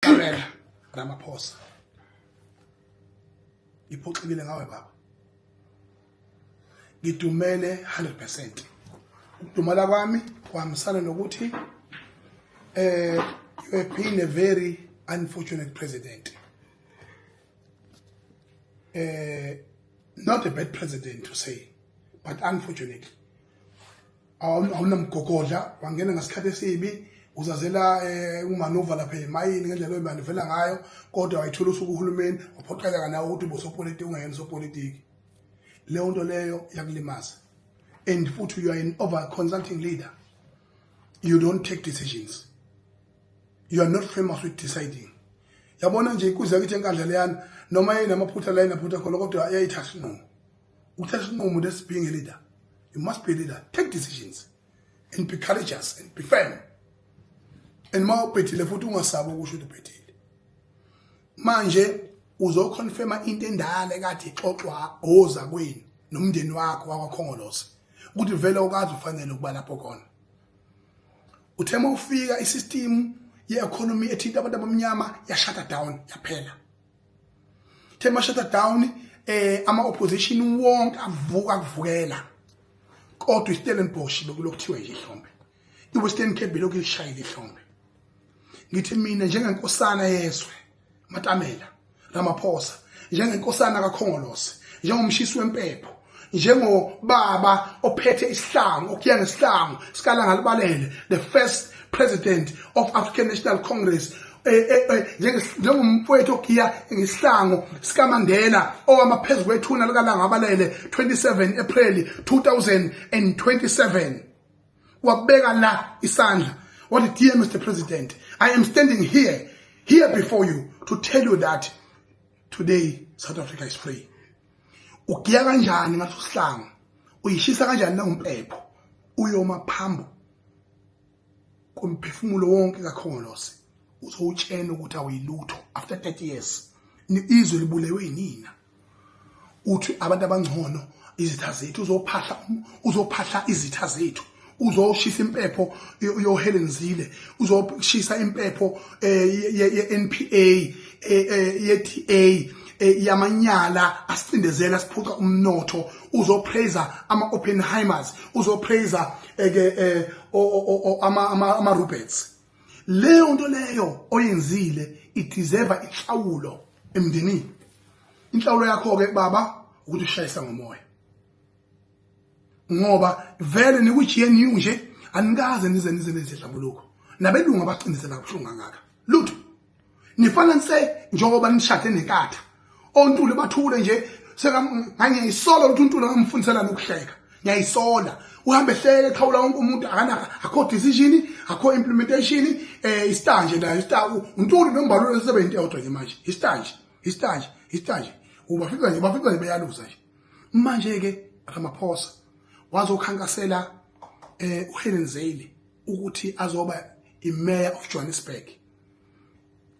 Kamela Ramaphosa ngiphoxekile ngawe baba ngidumele 100% ukudumala kwami kuhambisana nokuthi eh you have been a very unfortunate president eh not a bad president to say but unfortunately awunamgogodla wangena ngesikhathi esibi uzazela eh, umanuva lapha emayini ngendlela oyimanuvela ngayo kodwa wayithola usuku uhulumeni waphoqeleka nawe ukuthi ubusopolitiki ungayena usopolitiki leyo nto leyo yakulimaza and futhi you are an over consulting leader you don't take decisions you are not famous with deciding yabona nje ikuze kithi enkandla leyana noma yayinamaphutha la yinaphutha khona kodwa yayithathi nqomo ukuthatha isinqumo lesi being a leader you must be a leader take decisions and be courageous and be firm and uma ubhethile futhi ungasabi ukusho ukuthi ubhethile manje uzoconfirma into endala ekade ixoxwa oza kwenu nomndeni wakho wakwakhongolose ukuthi vele ukazi ufanele ukuba lapho khona uthe uma ufika isystem ye-economy ethinta abantu abamnyama yashata down yaphela the mashada down eh ama opposition wonke avuka kuvukela kodwa iStellenbosch bekulokuthiwa nje ihlombe iWestern Cape belokhu lishayile ihlombe ngithi mina njengenkosana yezwe matamela ramaphosa njengenkosana kakhongolose njengomshisi wempepho njengobaba ophethe isihlangu okuya ngesihlangu sikalanga libalele the first president of african national congress eh, eh, eh, njengomfowethu ogiya ngesihlango sikamandela owama phezu kwethuna likalanga abalele 27 april 2027 wabeka la isandla wathi dear mr president i am standing here here before you to tell you that today South Africa is free. ugiya kanjani ngaso sihlangu uyishisa kanjani na umpepho uyoma phambo komphefumulo wonke kakhongolose uzowutshena ukuthi awuyilutho after 30 years izwe libulewe yinina uthi abantu abangcono izitha zethu uzophahla uzophahla izitha zethu uzoshisa impepho yoHelen Zille uzoshisa impepho eh, ye-NPA eh, eh, ye-DA yamanyala asicindezela siphuca umnotho uzopraiser ama-oppenheimers uzopraiser ke ama-roberts leyo nto leyo oyenzile ideserva inhlawulo emndenini inhlawulo yakho-ke baba ukuthi ushayisa ngomoya ngoba vele niku-gnu nje anikaze nize nize nezihlambuluko nabelungu abacindezela kabuhlungu kangaka lutho nifana nise njengoba nishade nekatha ontuli bathule nje ngiyayisola ukuthi untuli angamfundisela nokuhleka ngiyayisola uhambe ehleke ekhawula wonke umuntu akana akho decision akho implementation eh istar nje nayo istar untuli nombalule sebenzi yodwa nje manje istar nje istar nje istar nje ubafika nje bafika nje beyaluza nje manje ke Ramaphosa wazokhankasela eh uHelen Zale ukuthi azoba iMayor of Johannesburg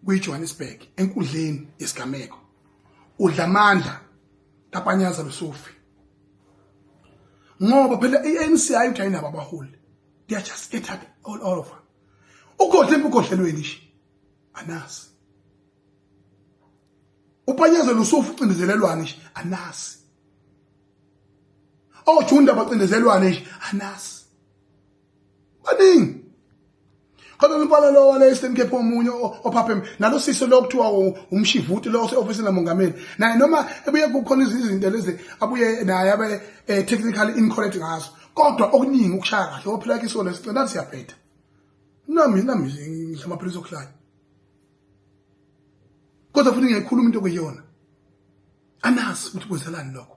kwiJohannesburg enkudleni yesigameko udla amandla kapanyaza lusufi ngoba phela iANC ayidayina abaholi they are just scattered all over ugodle emgodlelweni nje anasi upanyezelwa usufu ucindezelelwane nje anasi ojunda bacindezelwane nje anasi baningi khona umpala lo wale Eastern Cape omunye ophapheme nalo sisi lo kuthiwa umshivuti lo ose-ofisini lamongameli naye noma ebuye kukhona izinto lezi abuye naye abe eh, technically incorrect ngazo kodwa okuningi ukushaya kahle ophila kisona sicela siyabheda nami nami ngidla amaphilisi okuhlanya kodwa futhi ngiyayikhuluma into okuyiyona anazi ukuthi kwenzelani lokho